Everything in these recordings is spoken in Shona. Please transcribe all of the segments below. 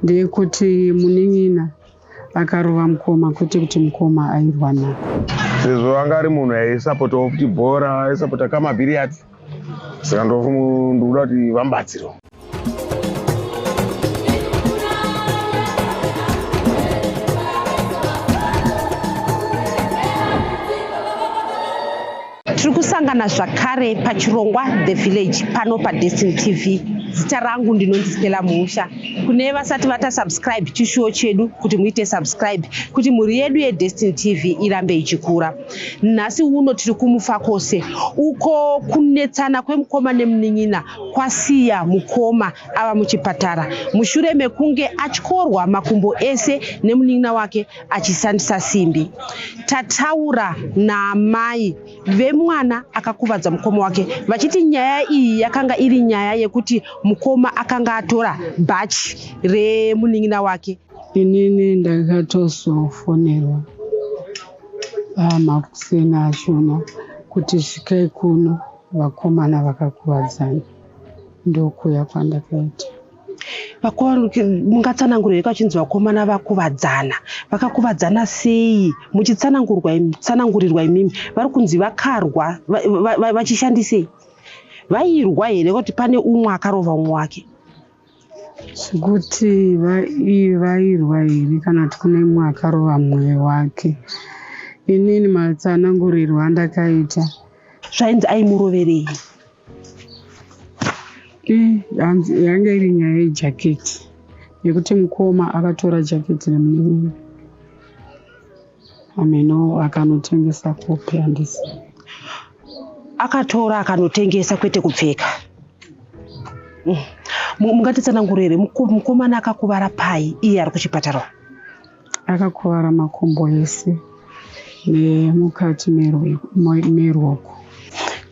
ndeyekuti munin'ina akarova mukoma kwete kuti mukoma airwa nako sezvo anga ari munhu aisapotawo kuti bhora aisapota kamabhiriyati saka ndikuda kuti vambatsirwa Tiri kusangana zvakare pachirongwa The Village pano paDestiny TV. Zita rangu ndinonzi Stella Muusha. Kune vasati vata subscribe chishuwo chedu kuti muite subscribe kuti mhuri yedu yeDestiny TV irambe ichikura. Nhasi uno tiri kuMufakose uko kunetsana kwemukoma nemunin'ina kwasiya mukoma ava muchipatara mushure mekunge atyorwa makumbo ese nemunin'ina wake achishandisa simbi. Tataura naamai vemwana akakuvadza mukoma wake vachiti nyaya iyi yakanga iri nyaya yekuti mukoma akanga atora bhachi remunin'ina wake. Inini ndakatozofonerwa makuseni achona kuti svikai kuno vakomana vakakuvadzana ndokuya kwandakaita. vakuru mungatsanangura here kwachinzi vakomana vakuvadzana vakakuvadzana sei muchitsanangurwa tsanangurirwa imimi vari kunzi vakarwa vachishandisei vairwa here kuti pane umwe akarova umwe wake zvekuti vairwa here kana kuti kune umwe akarova mumwe wake inini matsanangurirwa andakaita zvainzi aimuroverei hanzi yanga iri nyaya yejaketi yekuti mukoma akatora jaketi remunin'ina ameno akanotengesa kopi handisi akatora akanotengesa kwete kupfeka mm. mungatitsanangurire mukomana akakuvara pai iye ari kuchipatara Akakuvara makumbo ese nemukati merwoko.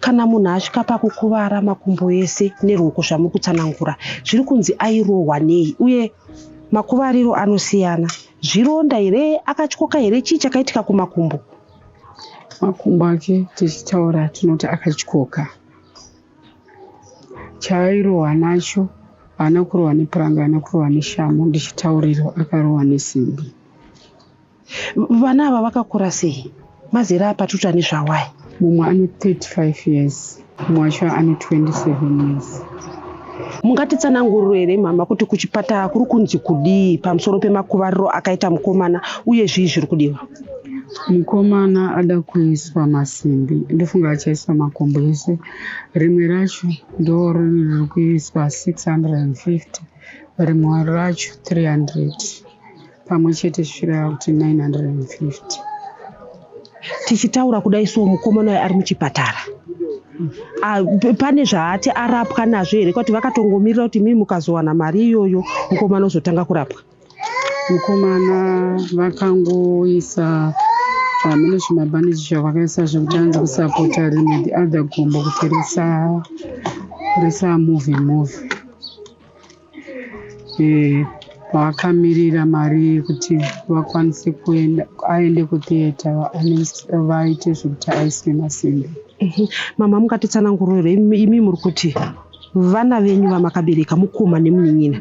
Kana munhu asvika pakukuvara makumbo ese nerwoko zvamuri kutsanangura, zviri kunzi airohwa nei uye makuvariro anosiyana. Zvironda here, akatyoka here, chii chakaitika kumakumbo? Makumbo ake tichitaura tinoti akatyoka. Chaairohwa nacho haana kurohwa nepuranga, haana kurohwa neshamhu ndichitaurirwa akarohwa nesimbi. Vana ava vakakura sei? Mazera apatuta nezvawai? Mumwe ane 35 years, mumwe wacho ane 27 years. Mungatitsananguriro here mhama kuti kuchipatara kuri kunzi kudii pamusoro pemakuvariro akaita mukomana uye zvii zviri kudiwa? mukomana ada kuiswa masimbi ndofunga achaiswa makumbo ese rimwe racho ndorini riri kuiswa 650 rimwe racho 300 pamwe chete zvichireva kuti 950 tichitaura kudai so mukomana uyo ari muchipatara pane zvaati arapwa nazvo here kwati vakatongomirira kuti mii mukazowana mari iyoyo mukomana ozotanga kurapwa Mukomana vakangoisa hameno zvimabhaniji zvavakaisa zvekuti anzi kusapota rimwe the other gumbo kuti risa risa move move eh, vakamirira mari yekuti vakwanise kuenda aende kutheatre vaite zvekuti aiswe masimbi mhm. mama mukatitsananguriro imi muri kuti vana venyu vamakabereka mukoma nemunin'ina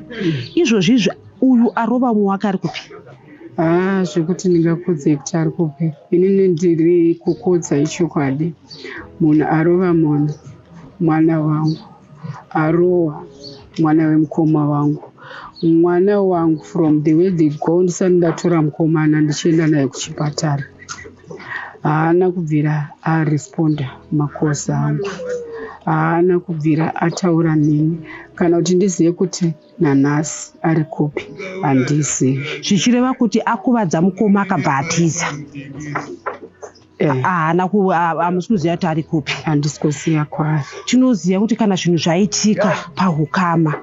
izvozvi izvi uyu arova umwe wake ari kupi haa ah, zvekuti ndingakudze kuti ari kupi inini ndiri kukudza ichokwadi munhu arova munhu mwana wangu arowa mwana wemukoma wangu mwana wangu from the way they go ndisati ndatora mukomana ndichienda naye kuchipatara haana kubvira aresponda makosa angu haana kubvira ataura neni kana kuti ndizive kuti nanhasi ari kupi handizivi zvichireva kuti akuvadza mukoma akabva atiza eh. haana hamusi kuziva kuti ari kupi handisi kuziva kwaari tinoziva kuti kana zvinhu zvaitika pahukama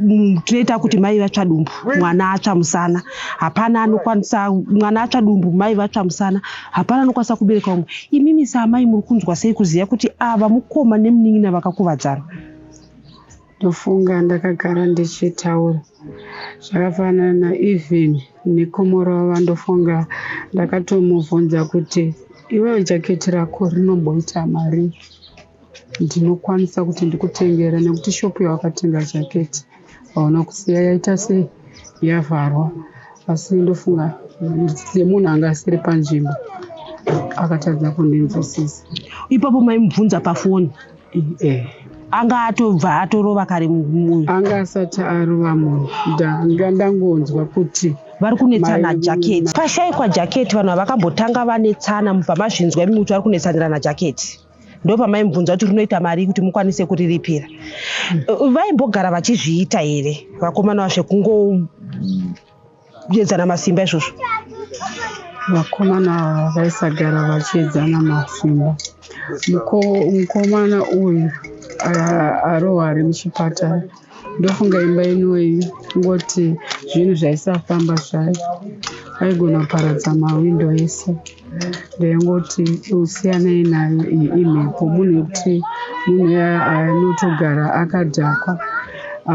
mm, tinoita kuti mai vatsva dumbu mwana atsva musana hapana anokwanisa mwana atsva dumbu mai vatsva musana hapana anokwanisa kubereka umwe imimi saamai muri kunzwa sei kuziva kuti ava mukoma nemunin'ina vakakuvadzana ndofunga ndakagara ndichitaura zvakafanana even nekomoro vava ndofunga ndakatomubvunza kuti iwewe jaketi rako rinomboita mari ndinokwanisa kuti ndikutengera nekuti shopu yawakatenga jaketi aona kusiya yaita sei yavharwa asi ndofunga semunhu anga asiri panzvimbo akatadza kundinzwisisa ipapo maimubvunza pafoni eh. anga atobva atorova kare munhu anga asati arova munhu ndanga ndangonzwa kuti vari kunetsana jaketi pashaikwa jaketi vanhu havakambotanga vanetsana mubva mazvinzwa imi kuti vari kunetsanirana jaketi ndopamaimubvunza kuti rinoita marii kuti mukwanise kuriripira hmm. vaimbogara vachizviita here vakomana vazve kungoedzana masimba izvozvo vakomana ava vaisagara vachiedzana masimba mukomana uyu arohwa ari muchipatara Ndofunga imba inoyi kungoti zvinhu zvaisafamba zvayo vaigona kuparadza mahwindo ese ndaingoti usiyanei nayo iyi imhepo munhu yekuti munhu anotogara akadhakwa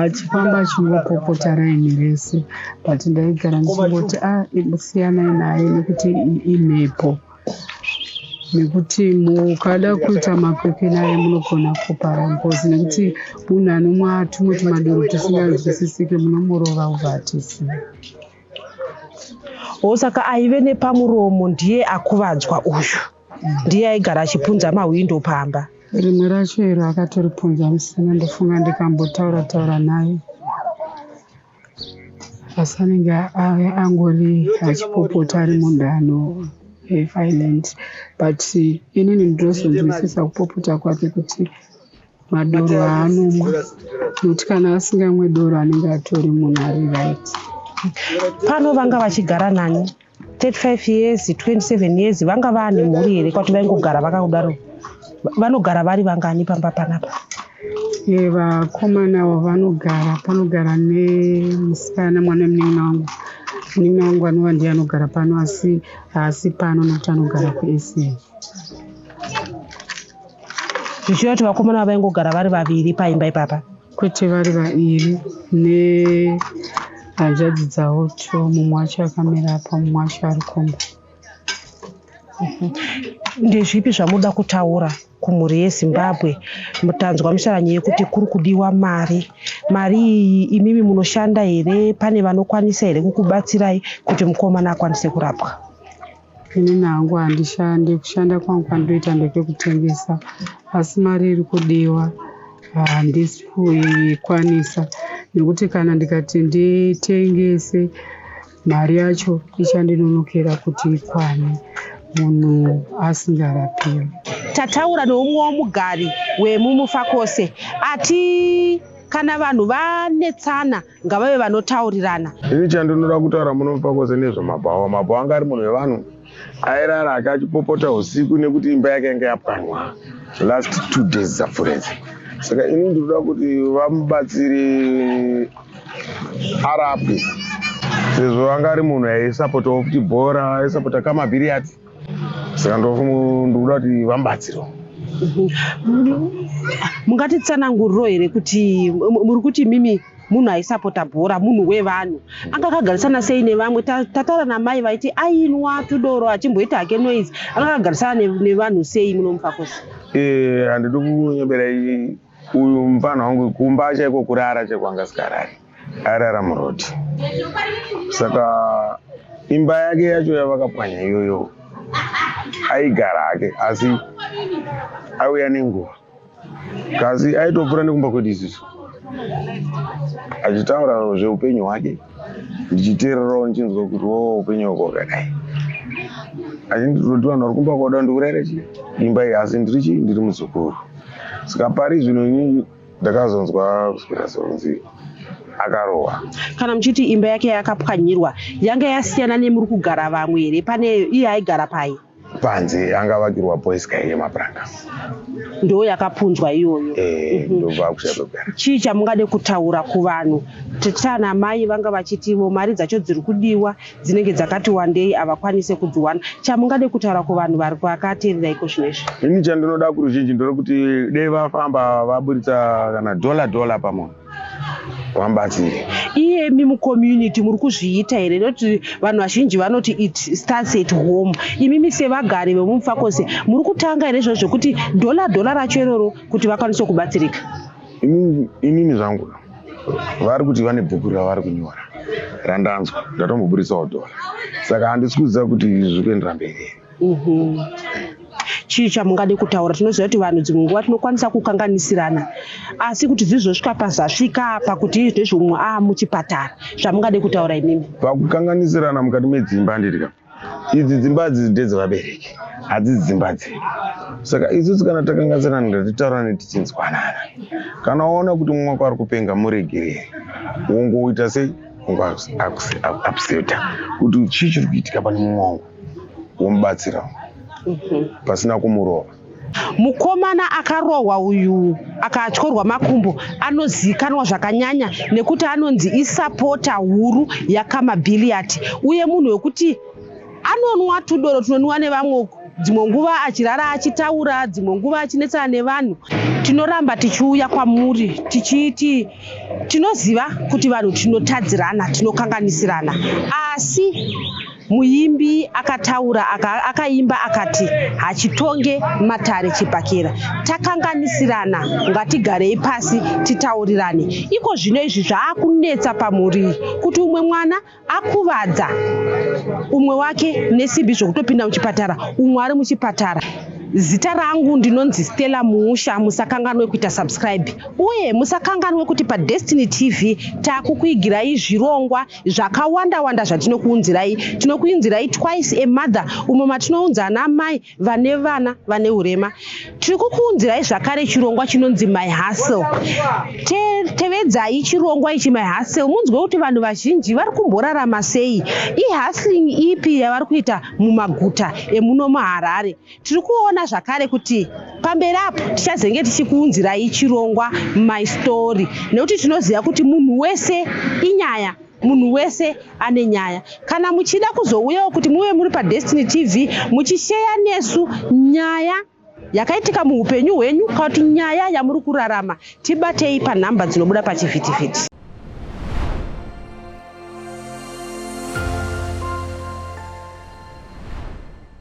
achifamba achingopopota raini rese but ndaigara ndichingoti a ah, siyanai naye nekuti imhepo nekuti mukada kuita makwikwi naye munogona kupara ngozi nekuti munhu anomwa tumwe tumadoro tusinganzwisisike munomurova ubva atisiya o oh, saka aive nepamuromo ndiye akuvadzwa uyu ndiye aigara achipunza mahwindo pamba rimwe racho iro akatoripunza musina ndofunga ndikambotaura taura naye asi anenge ave angori achipopota ari munhu ano violent but inini ndinozonzwisisa kupopota kwake kuti madoro aanomwa nokuti kana asingamwe doro anenge atori munhu ari right pano vanga vachigara nani 35 years 27 years vanga vane mhuri here kwati vaingogara vakakudaro vanogara vari vangani pamba panapa e, vakomana avo vanogara panogara nemusikana mwana wemunin'ina wangu munin'ina wangu anova ndiye anogara pano asi haasi pano nokuti anogara kusa zvichiva kuti vakomana vavaingogara vari vaviri paimba ipapa kwete vari vairi nehanzvadzi dzavo two mumwe wacho akamira apa mumwe wacho ari kumba ndezvipi zvamuda kutaura kumhuri yezimbabwe tanzwa misharanyo yekuti kuri kudiwa mari mari iyi imimi munoshanda here pane vanokwanisa here kukubatsirai kuti mukomana akwanise kurapwa Ini hangu handishande, kushanda kwangu kwandoita ndekekutengesa asi mari iri kudiwa handisi kuikwanisa nekuti kana ndikati nditengese mari yacho ichandinonokera kuti ikwane munhu asingarapiwi. Tataura neumwe womugari wemumufakose ati kana vanhu vanetsana ngavave vanotaurirana ini chandinoda kutaura muno pakoze nezvemabhawa mabhawa anga ari munhu wevanhu airara ake achipopota usiku nekuti imba yake yanga yapwanwa last two days dzapfuredzi saka ini ndinoda kuti vamubatsiri arapwe sezvo anga ari munhu aisapotawo kuti bhora aisapota kamabhiriyati saka ndikuda kuti vambatsiro mungatitsananguriro here kuti muri kuti mimi munhu aisapota bhora munhu wevanhu anga akagarisana sei nevamwe tataura namai vaiti ainwa tudoro achimboita hake noise anga akagarisana nevanhu sei munomufakosi eh, handidi kunyebera uyu mfana wangu kumba chaiko kurara chaiko anga sikarari airara muroti saka imba yake yacho yavakapwanya iyoyo aigara hake asi auya nenguva kasi aitopfuura nekumba kwedu isusu achitaura zveupenyu hwake ndichiteererawo ndichinzwa kuti wo upenyu hwako hwakadai asi ndinoti vanhu vari kumba kwada ndikurere chi imba iyi asi ndiri chii ndiri muzukuru saka pari zvino ini ndakazonzwa kuswera sekunzi akarohwa kana muchiti imba yake yakapwanyirwa yanga yasiyana nemuri kugara vamwe here pane iye aigara paye panze anga vakirwa boys guy yemapuranga ndo yakapunzwa iyoyo eh, mhm. ndovakuchazogara chii chamungade kutaura kuvanhu tana mai vanga vachitivo mari dzacho dziri kudiwa dzinenge dzakati wandei havakwanise kudziwana chamungade kutaura kuvanhu vari kwakaterera iko zvino izvi ini chandinoda kuruzhinji ndore kuti dei vafamba vaburitsa kana dhola dhola pamunhu wambatii iyemi mucommunity muri kuzviita here nekuti vanhu vazhinji vanoti it starts at home imimi sevagari vemumufakose muri kutanga here izvozvo zvekuti dhola dhola racho iroro kuti vakwanise kubatsirika inini zvangu vari kuti vane bhuku ravari kunyora randanzwa ndatomboburitsawo dhola saka handisi kuziva kuti zviri kuendera mberi Mhm. chii chamungade kutaura tinoziva kuti vanhu dzimwe nguva tinokwanisa kukanganisirana asi kuti zvizosvika pazasvika apa kuti izvi ndezvomumwe a ah, muchipatara zvamungade kutaura imimi pakukanganisirana mukati medzimba ndirika idzi dzimba dzi ndedzevabereki hadzisi dzimba dzedu saka isusu kana takanganisirana ndatitaurane tichinzwanana kana waona kuti mumwe wako ari kupenga muregereri wongoita sei wongoapseta kuti chii chiri kuitika pane mumwe wangu womubatsira mhm. pasina kumurova mukomana akarohwa uyu akatyorwa makumbo anozivikanwa zvakanyanya nekuti anonzi isapota huru yakamabiliyati uye munhu wekuti anonwa tudoro tunonwiwa nevamwe uku dzimwe nguva achirara achitaura dzimwe nguva achinetsana nevanhu tinoramba tichiuya kwamuri tichiiti tinoziva kuti vanhu tinotadzirana tinokanganisirana asi Muimbi akataura aka akaimba akati hachitonge matare chibhakera takanganisirana ngatigarei pasi titaurirane iko zvino izvi zvaakunetsa pamhuri iyi kuti umwe mwana akuvadza umwe wake nesimbi zvokutopinda muchipatara umwe ari muchipatara zita rangu ndinonzi stella muusha musakanganwe kuita subscribe uye musakanganwe kuti padestiny tv takukuigirai zvirongwa zvakawanda wanda zvatinokuunzirai tinokuinzirai twice a mother umo matinounza ana amai vane vana vane urema tiri kukuunzirai zvakare chirongwa chinonzi my hustle tevedzai chirongwa ichi my hustle munzwe kuti vanhu vazhinji vari kumborarama sei ihustling ipi yavari kuita mumaguta emuno muharare Tiri kuona zvakare kuti pamberi apo tichazenge tichikuunzirai chirongwa my story nekuti tinoziva kuti munhu wese inyaya munhu wese ane nyaya kana muchida kuzouyawo kuti muve muri padestiny tv muchisheya nesu nyaya yakaitika muupenyu hwenyu kana kuti nyaya yamuri kurarama tibatei panhamba dzinobuda pachivhitivhiti